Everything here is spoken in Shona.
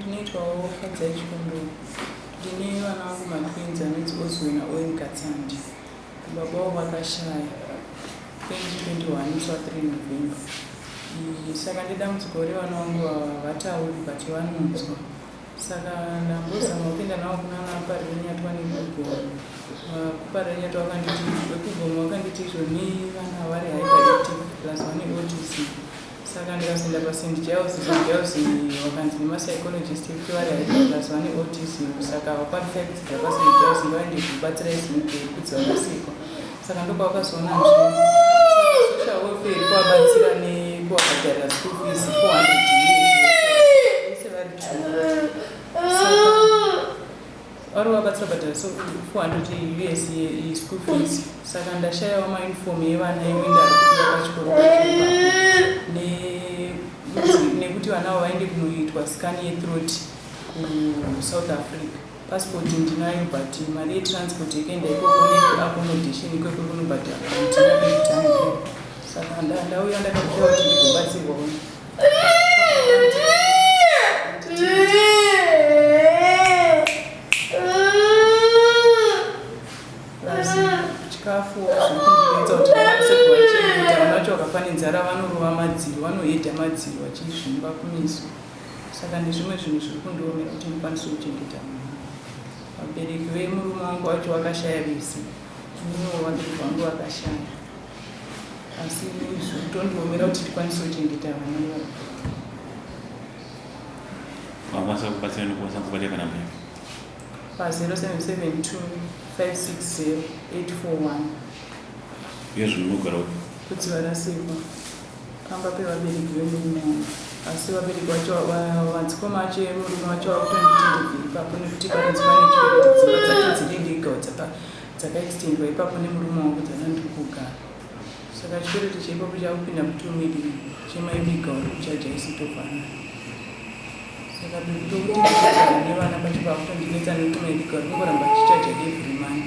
Ndinoitwawo Fadzai Chikondoro. Ndine vana vangu matwins anonzi Ozue naOwen Katsandi. Baba vavo vakashaya 2021 musi wa 3 November. Iyi saka ndedambudziko revana vangu vava havatauri but vanonzwa. Saka ndambozama kupinda navo kuna naParirenyatwa nekugomo. KuParirenyatwa vakanditi vekugomo vakanditi izvo nei vana vari hyperactive plus vane autism. saka ndikazoenda paSt Giles St Giles wakanzi nemapsychologist ekuti vari haipatas vane autism saka vakwanisa kudzidza paSt Giles ngavaende kubatsira izimukeri kudzi vakasikwa saka ndokwavakazoona social welfare kuvabatsira nekuwabhadharira school fees 400 vari vabatsira but so 400 us ye school fees saka ndashayawo mauniform yevana iwe ndakuia pachikoro nekuti vana avo vaende kunoitwa scan yethroat kusouth africa passport ndinayo but mari yetransport yekuenda ikoko neaccommodation ikoko kunobhadhara saka ndauya ndakakuaa kuti ndigobatsirwa nzara vanorova madziro vanohedha madziro vachizvimba kumeso saka nezvimwe zvinhu zviri kundiomera kuti ndikwanise kuchengeta mwana vabereki vemurume wangu vacho vakashaya vese muno vabereki vangu vakashaya asi zvotondiomera kuti tikwanise kuchengeta vana vavo vakwanisa kubatsira nekukwanisa kubatsira kana mhaka pa 0772560841 iyo zvinhu munogara upi kuti varasikwa pamba pevabereki vemurume wangu asi vabereki vacho madzikoma acho emurume wacho vakutonditendevei ipapo nekuti parinzi pane chikuti dzimba dzacho dziri ndega dzapa dzakaextendwa ipapo nemurume wangu kuti hana ndiri kugara saka chikwereti chaipapo chakupinda kuti umidi chemaiviga uri kuchaja isi tovana saka bekutokuti nevana pacho pakutondinetsa nekuti maiviga uri kungoramba chichaja every month